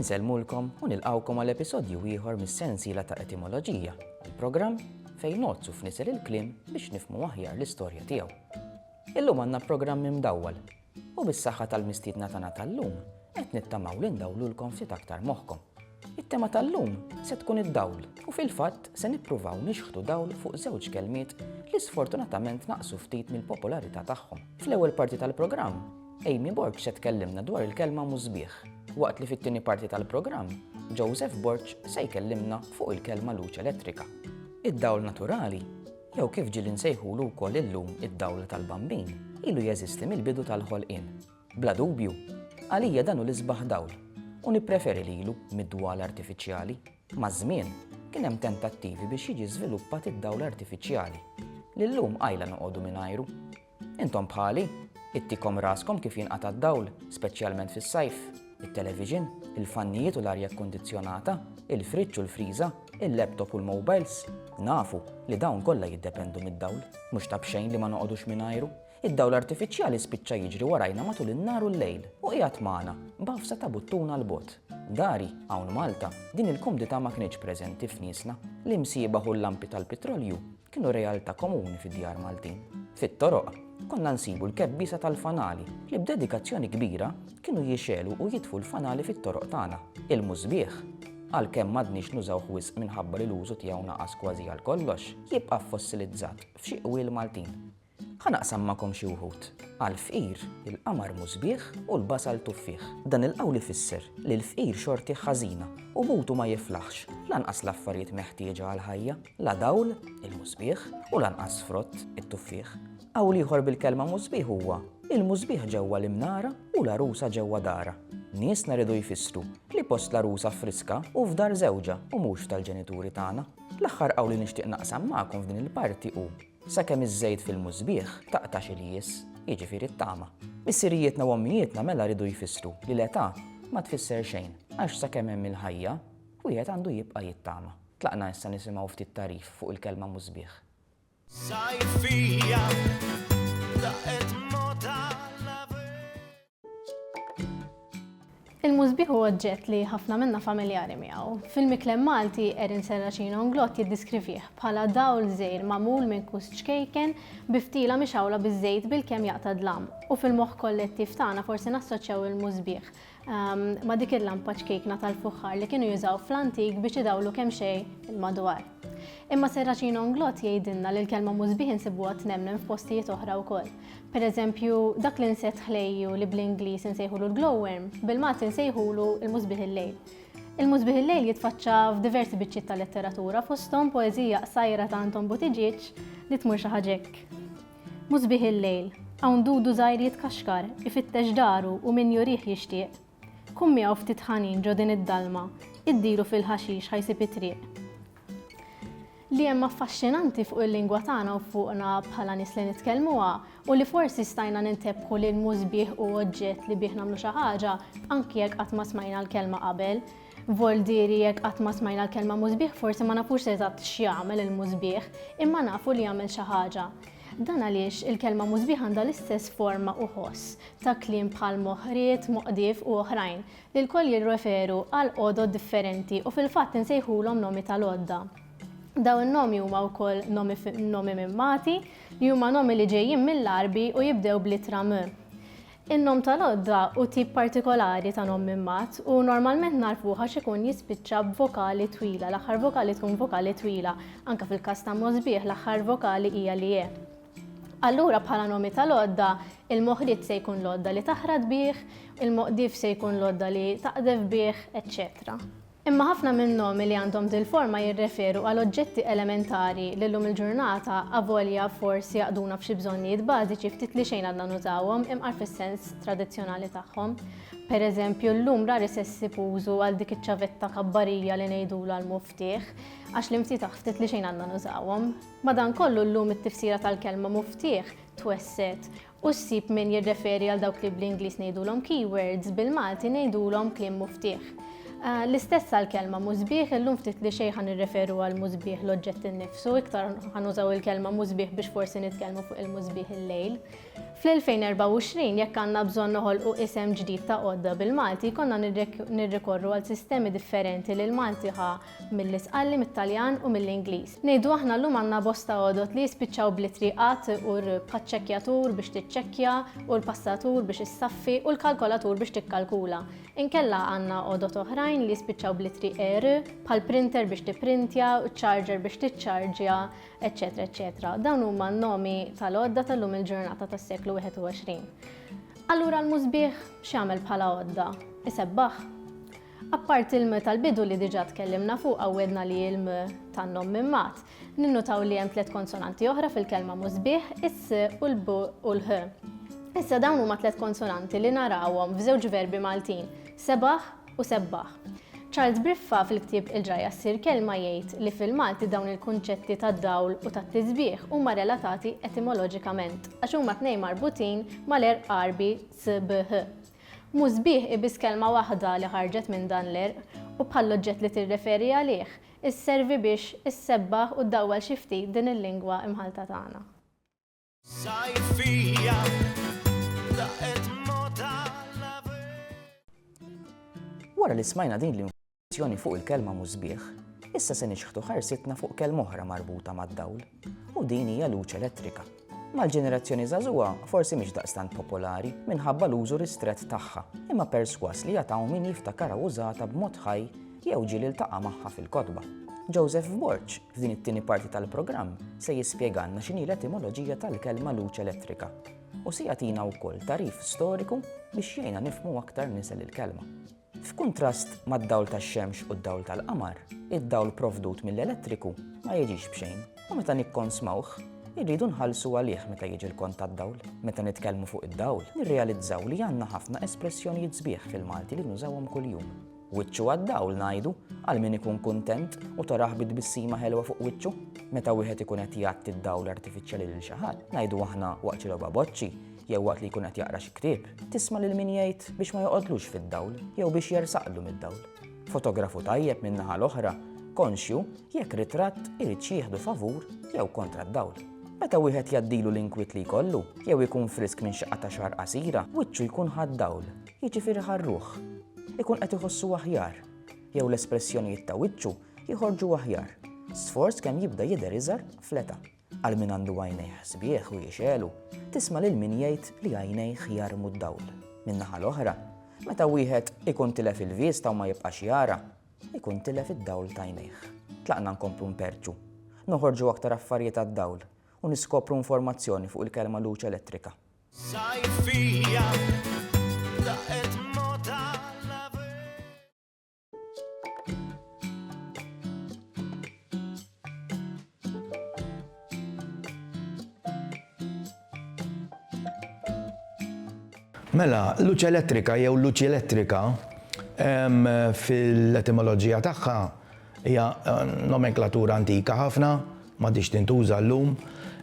Insellmulkom u nilqgħukom għal episodju ieħor mis-sensiela ta' Etimoloġija, il-programm fejn nozzu f'nisel il-kliem biex nifmu aħjar l-istorja tiegħu. Illum għandna programm imdawwal u bis-saħħa tal-mistiedna tagħna tal-lum qed nittamaw li ndawlulkom ftit aktar moħħkom. It-tema tal-lum se tkun id-dawl u fil-fatt se nippruvaw nixħtu dawl fuq żewġ kelmiet li sfortunatament naqsu ftit mill-popolarità tagħhom. Fl-ewwel parti tal-programm Amy Borg se tkellimna dwar il-kelma musbieħ, waqt li fit-tieni parti tal-programm, Joseph Borg se jkellimna fuq il-kelma luċ elettrika. Id-dawl naturali, jew kif ġieli nsejħulu wkoll illum id-dawl tal-Bambin, ilu jeżisti mill-bidu tal-ħolqien. Bla dubju, għalija dan hu l-isbaħ dawl, u nippreferi lilu mid-dwal artifiċjali. Maż-żmien, kien hemm tentattivi biex jiġi żviluppat id-dawl artifiċjali, li llum qajla noqogħdu mingħajru, Intom bħali, ittikom raskom kif jinqata' d-dawl, speċjalment fis-sajf. It-television, il-fannijiet u l-arja kkundizzjonata, il-friġġ u l-friża, il-laptop u l-mowbajls, nafu li dawn kollha jiddependu mid-dawl. Mhux ta' b'xejn li ma noqogħdux mingħajru. Id-dawl artifiċjali spiċċa jiġri warajna matul in-nhar u l-lejl u qiegħed magħna, b'għafsa ta' buttun għal bogħod. Dari, hawn Malta, din il-kumdità ma kinitx preżenti f'niesna. L-imsiebaħ u l-lampi tal-pitrolju kienu realtà komuni fid-djar Maltin. Fit-toroq, konna nsibu l-kebbiesa tal-fanali li b'dedikazzjoni kbira kienu jixegħlu u jitfu l-fanali fit-toroq tagħna. Il-musbieħ, għalkemm m'għadniex nużawh wisq minħabba li l-użu tiegħu naqas kważi għal kollox, jibqa' fossilizzat f'xi qwiel Maltin. Ħa naqsam magħkom xi wħud. Għall-fqir, il-qamar mhu sbieħ u l-basal tuffieħ. Dan il-qawl ifisser li l-fqir xortih ħażina u mutu ma jiflaħx, lanqas l-affarijiet meħtieġa għall-ħajja, la dawl, il-mhu sbieħ, u lanqas frott, it-tuffieħ. Qawl ieħor bil-kelma mhu sbieħ huwa, il-mhu sbieħ ġewwa l-imnara u l-għarusa ġewwa darha. Niesna riedu jfissru li post l-għarusa friska u f'dar żewġha u mhux tal-ġenituri tagħna. L-aħħar qawl li nixtieq naqsam magħkom f'din il-parti hu Sakemm iż-żejt fil-musbieħ taqtax il-jież, jiġifieri t-tama. Missirijietna u ommijietna mela ridu jfissru li l-età ma tfisser xejn, għax sakemm hemm il-ħajja, wieħed għandu jibqa' jittama. Tlaqna issa nisimgħu ftit tagħrif fuq il-kelma musbieħ. Sajfija, daqet mota l-għabieb. Il-musbih huwa oġġett li ħafna minna familjari miegħu. Fil-miklem Malti, Erin Serracino Nglott jiddiskrivih bħala dawl żejr magħmul minn kus ċkejken bi ftila mixawla biż-żejt bilkemm jaqta' dlam. U fil-moħħ kollettiv tagħna forsi nassoċjaw il-musbih ehm, ma' dik il-lampa ċkejkna tal-fuħħar li kienu jużaw fl-antik biex idawlu kemm xejn il-madwar. Imma Serracino Nglott jgħidilna li l-kelma musbih insibuha tnemmen f'postijiet oħra wkoll. Per eżempju, dak l-insett ħlejju li bl-Ingliż insejħulu l-glowworm, bil-Malti nsejħulu l-musbieħ il-lejl. Il-musbieħ il-lejl jitfaċċa f'diversi biċċiet ta' letteratura fosthom poeżija qsajra ta' Anton Buttiġieġ li tmur xi ħaġa hekk. Musbieħ il-lejl, hawn dudu żgħir jitkaxkar, ifittex daru u min jurih jixtieq. Kun miegħu ftit ħanin ġo din id-dalma, iddilu fil-ħaxix ħa jsib it-triq. Li hemm affaxxinanti fuq il-lingwa tagħna u fuqna bħala nies li nitkellmuha u li forsi stajna nintebħu li nmu sbieħ u oġġett li bih nagħmlu xi ħaġa anki jekk qatt ma smajna l-kelma qabel. Voldieri jekk qatt ma smajna l-kelma mużbieħ forsi ma nafux eżatt x'jagħmel il-mużbieħ, imma nafu li jagħmel xi ħaġa. Dan għaliex il-kelma mużbieħ għandha l-istess forma u ħoss, ta' kliem bħal moħriet, moqdief u oħrajn, li lkoll jirreferu għal għodod differenti u fil-fatt insejħulhom nomi tal-għodda. Dawn in-nomi huma wkoll nomi minn Malti, li huma nomi li ġejjin mill-Għarbi u jibdew bl-ittra m. In-nom tal-għodda hu tip partikolari ta' nom minn Mat u normalment nagħrfuh għax ikun jispiċċa b'vokali twila, l-aħħar vokali tkun vokali twila, anke fil-każ ta' Mosbieħ l-aħħar vokali hija l-ie. Allura bħala nomi tal-għodda, il-moħriet se jkun l-għodda li taħrat bih, il-moqdif se jkun l-għodda li taqdef bih, eċċetera. Imma ħafna min-nomi li għandhom dil-forma jirreferu għal oġġetti elementari li llum il-ġurnata, avolja forsi jaqduna f'xi bżonnijiet bażiċi ftit li xejn għadna nużawhom imqar fis-sens tradizzjonali tagħhom. Pereżempju, llum rari se ssib użu għal dik iċ-ċavetta kabbarija li ngħidulha l-muftieħ, għax l-imftitaħ ftit li xejn għadna nużawhom. Madankollu llum it-tifsira tal-kelma muftieħ twessgħet u ssib min jirreferi għal dawk li bl-Ingliż ngħidulhom keywords, bil-Malti ngħidulhom kliem muftieħ. L-istess għall-kelma musbieħ, illum ftit li xejn ħa nirreferu għal musbieħ l-oġġett innifsu, iktar ħa nużaw il-kelma musbieħ biex forsi nitkellmu fuq il-musbieħ il-lejl. Fl-2024 jekk għandna bżonn noħolqu isem ġdid ta' għodda bil-Malti jkollna nirrikorru għal sistemi differenti li l-Malti ħa Milli tqalli mit-Taljan u mill-Ingliż. Ngħidu aħna llum għandna bosta għodod li jispiċċaw bl-ittri at u r bħaċ-ċekkjatur biex tiċċekkja u l-passatur biex issaffi u l-kalkolatur biex tikkalkula. Inkella għandna għodod oħrajn li jispiċċaw bl-ittri er, bħall-printer biex tipprintja, ċ-ċarġer biex tiċċarġja, eċċetera eċċetera. Dawn huma n-nomi tal-għodda tal-lum il-ġurnata tas-seklu 21. Allura l-musbieħ x'jagħmel bħala għodda? Isebbaħ? Apparti l-m tal-bidu li diġà tkellimna fuqha u għedna li hi l-m tan-nom minn Magħad, ninnutaw li hemm tliet konsonanti oħra fil-kelma musbieħ, is-s u l-b u l-h. Issa dawn huma tliet konsonanti li narawhom f'żewġ verbi Maltin, sebaħ u sebbaħ. Charles Briffa fil-ktieb Il-Ġrajja Ssir Kelma jgħid li fil-Malti dawn il-kunċetti tad-dawl u tat-tisbieħ huma relatati etimoloġikament għax huma t-tnejn marbutin mal-għerq Għarbi sbh. Mhu sbieħ hi biss kelma waħda li ħarġet minn dan l-għerq u bħall-oġġett li tirreferi għalih, isservi biex issebbaħ u ddawwal xi ftit din il-lingwa imħallta tagħna. Wara li smajna din l-. Meditazzjoni fuq il-kelma mużbieħ, issa se nixħtu ħarsitna fuq kelma oħra marbuta mad-dawl, u din hija luċ elettrika. Mal-ġenerazzjoni żagħżugħa forsi mhix daqstant popolari minħabba l-użu ristrett tagħha, imma perswas li jataw min jiftakara użata b'mod ħaj jew ġiel iltaqa' magħha fil-kotba. Joseph Borg, f'din it-tieni parti tal-programm, se jispjegalna x'inhi l-etimoloġija tal-kelma luċ elettrika u se jagħtina wkoll tarif storiku biex jgħinna nifhmu aktar nisel il-kelma. F'kuntrast mad-dawl tax-xemx u d-dawl tal-qamar, id-dawl provdut mill-elettriku ma jiġix b'xejn u meta nikkonsmawh, irridu nħallsu għalih meta jiġi l-kont tad-dawl. Meta nitkellmu fuq id-dawl, nirrealizzaw li għandna ħafna espressjonijiet sbieħ fil-Malti li nużawhom kuljum. Wiċċu għad-dawl ngħidu għal min ikun kuntent u tarah bi tbissima ħelwa fuq wiċċu. Meta wieħed ikun qed jgħatti d-dawl artifiċjali lil xi ħadd, ngħidu aħna waqt xi logħba boċċi, jew waqt li jkun qed jaqra xi ktieb, tisma' lil min jgħid biex ma joqgħodlux fid-dawl jew biex jersaqlu mid-dawl. Fotografu tajjeb min-naħa l-oħra, konxju jekk ritratt irid x'jieħdu favur jew kontra d-dawl. Meta wieħed jgħaddilu l-inkwiet li jkollu, jew ikun frisk minn xi qatgħa xahar qasira, wiċċu jkun ħa d-dawl, jiġifieri ħa r-ruħ. Ikun qed iħossu aħjar, jew l-espressjonijiet ta' wiċċu jħorġu aħjar, sforz kemm jibda jidher iżgħar fl-età. Għal min għandu għajnejh sbieħ u jixegħlu, tisma' lil min jgħid li għajnejh jarmu d-dawl. Min-naħa l-oħra, meta wieħed ikun tilef il-vista u ma jibqax jara, ikun tilef id-dawl t'għajnejh. Tlaqna nkomplu nperrċu, noħorġu aktar affarijiet għad-dawl u niskopru informazzjoni fuq il-kelma luċ elettrika. Mela, luċi elettrika jew luċi elettrika fil-etimoloġija tagħha hija eh, nomenklatura antika ħafna, m'għadhiex tintuża llum,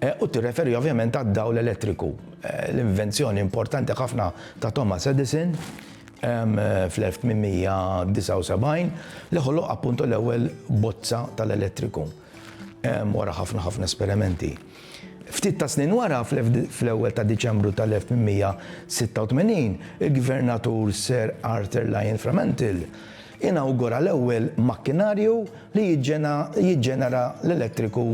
u tirreferi ovvjament għad-dawl elettriku, l-invenzjoni importanti ħafna ta' Thomas Edison fl-1879, li ħoloq appuntu l-ewwel bozza tal-elettriku wara ħafna ħafna esperimenti. Ftit ta' snin wara, fl-ewwel ta' Diċembru tal-1886, il-Gvernatur Sir Arthur Lyon Fremantle, Inawgura l-ewwel makkinarju li jiġġenera l-elettriku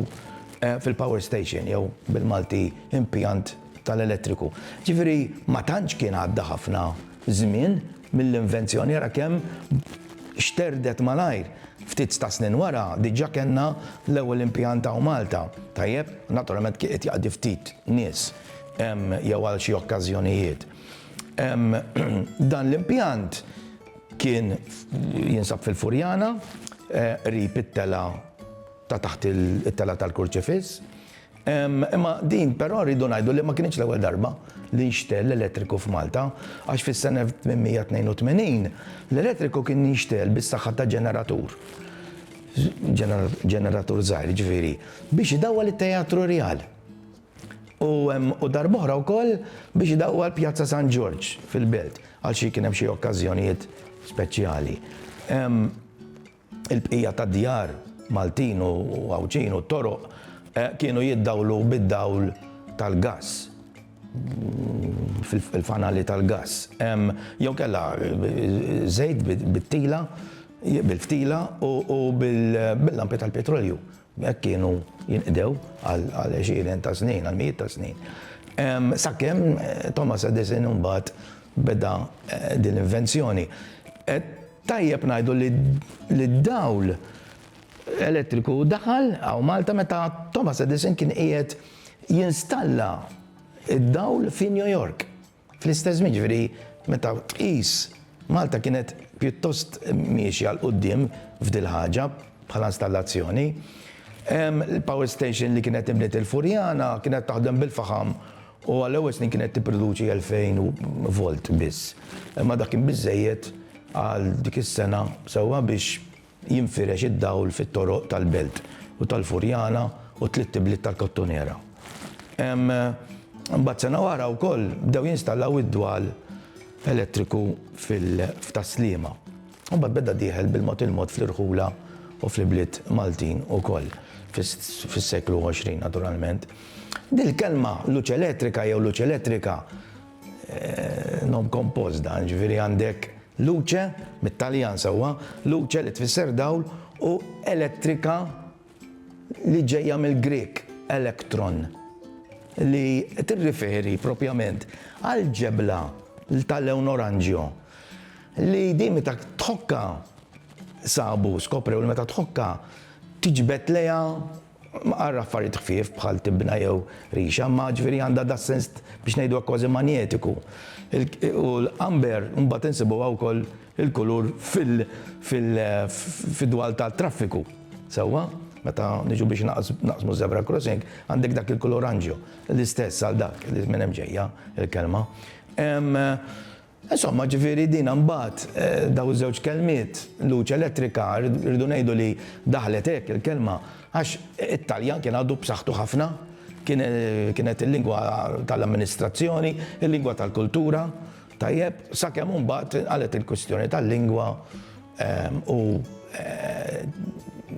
fil-power station jew bil-Malti impjant tal-elettriku. Ġifieri ma tantx kien għadda ħafna żmien mill-invenzjoni, ara kemm xterdet malajr. Ftit ta' snin wara diġà kellna l-ewwel impjant hawn Malta. Tajjeb, naturalment kien qed jaqdi ftit nies jew għal xi okkażjonijiet. Dan l-impjant Kien jinsab fil-Furjana, qrib it-telgħa ta' taħt it-telgħa tal-Kurċifiss. Imma din però rridu ngħidu li ma kinitx l-ewwel darba li nxtegħel l-elettriku f'Malta, għax fis-sena 1882 l-elettriku kien jinxtegħel bis-saħħa ta' ġeneratur, ġeneratur żgħir jiġifieri, biex idawwal it-Teatru Rjal. U u darb'oħra wkoll biex idawwal Pjazza San Ġorġ fil-Belt għal xi kien hemm xi okkażjonijiet speċjali. Il-bqija tad-djar Maltin u Għawdxin u t-toroq kienu jiddawlu bid-dawl tal-gass, fil-fanali tal-gass, jew kellha żejt bit-tila, bil-ftila u bil-lampi tal-petrolju. Hekk kienu jinqdew għal għexieren ta' snin, għal mijiet ta' snin. Sakemm Thomas Edison imbagħad beda din l-invenzjoni. Tajjeb ngħidu li d-dawl elettriku daħal hawn Malta meta Thomas Edison kien qiegħed jinstalla d-dawl fi New York. Fl-istess żmien, jiġifieri meta tqis, Malta kienet pjuttost miexja 'l quddiem f'dil-ħaġa bħala installazzjoni. Il-power station li kienet inbniet il-Furjana kienet taħdem bil-faħam u għall-ewwel snin kienet tipproduċi 2000 volt biss. Imma dak kien biżżejjed għal dik is-sena sewwa biex Jinfirex id-dawl fit-toroq tal-Belt u tal-Furjana u t-tliet ibliet tal-Kottonera. Imbagħad sena wara wkoll bdew jinstallaw id-dwal elettriku f'Tas-Sliema. Imbagħad beda dieħel bil-mod il-mod fl-irħula u fl-ibliet Maltin ukoll fis-seklu 20 naturalment. Dil-kelma luċ elettrika jew luċ elettrika Nom kompost dan, ġifieri għandek luce, mit-Taljan sewwa, luce li tfisser dawl u elettrika li ġejja mill-Grieg elektron li tirriferi propjament għall-ġebla tal-lewn oranġjo li din meta tħokkha sabu, skoprew li meta tħokkha tiġbed lejha Mqarr affarijiet ħfief bħal tibna jew rixa, imma ġifieri għandha das-sens biex ngħidu hekk kważi manjetiku. U l-amber imbagħad insibuha wkoll il-kulur fid-dwal tat-traffiku. Sewwa? Meta niġu biex naqsmu żebra crossing, għandek dak il-kulur oranġjo. L-istess għal dak li minn hemm ġejja l-kelma. Insomma, ġifieri din imbagħad, dawn iż-żewġ kelmiet, luċi elettrika, rridu ngħidu li daħlet hekk il-kelma għax it-Taljan kien għadu b'saħħtu ħafna, kien kienet il-lingwa tal-amministrazzjoni, il-lingwa tal-kultura, tajjeb, sakemm imbagħad inqalgħet il-kwistjoni tal-lingwa u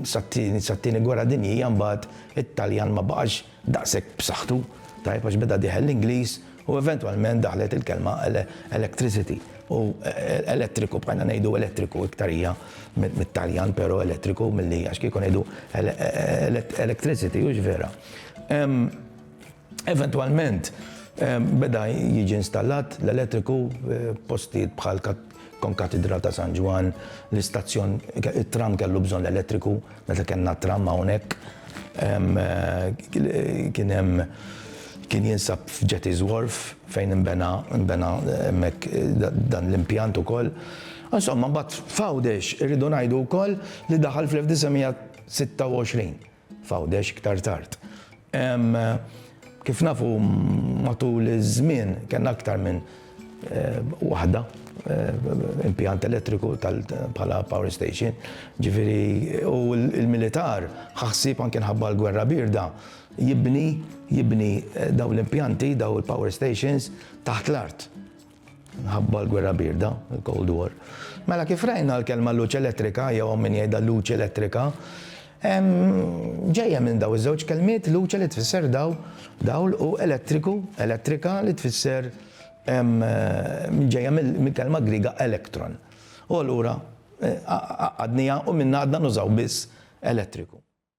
sat-Tieni Gwerra Dinjija imbagħad it-Taljan ma baqax daqshekk b'saħħtu, tajjeb għax beda dieħel l-Ingliż u eventwalment daħlet il-kelma electricity u elettriku bqajna ngħidu elettriku iktar hija mit-Taljan però elettriku milli għax kieku ngħidu electricity hux vera. Eventwalment beda jiġi installat l-elettriku f'postijiet bħal Konkatidral ta' San Ġwann, l-istazzjon, it-tram kellu bżonn l-elettriku, meta kellna t-tram hawnhekk. Kien hemm kien jinsab f'Jetty's Wharf fejn inbena nbena hemmhekk dan l-impjant ukoll. Insomma, mbagħad f'Għawdex irridu ngħidu wkoll li daħal fl-1926. f'Għawdex iktar tard. Kif nafu matul iż-żmien kellna aktar minn waħda impjant elettriku bħala power station, ġifieri u l-militar ħa ħsieb anke mħabba l-gwerra bierda jibni dawn l-impjanti, dawn il-power stations taħt l-art. Ħabba l-gwerra birda, il-Cold War. Mela kif rajna l-kelma luċi elettrika, jew min jgħidha luċi elettrika, ġejja minn daw iż-żewġ kelmiet luċi li tfisser daw dawl u elettriku, elettrika li tfisser ġejja mill-kelma griga elektron. U allura eh, għadnija u minna għadna nużaw biss elettriku.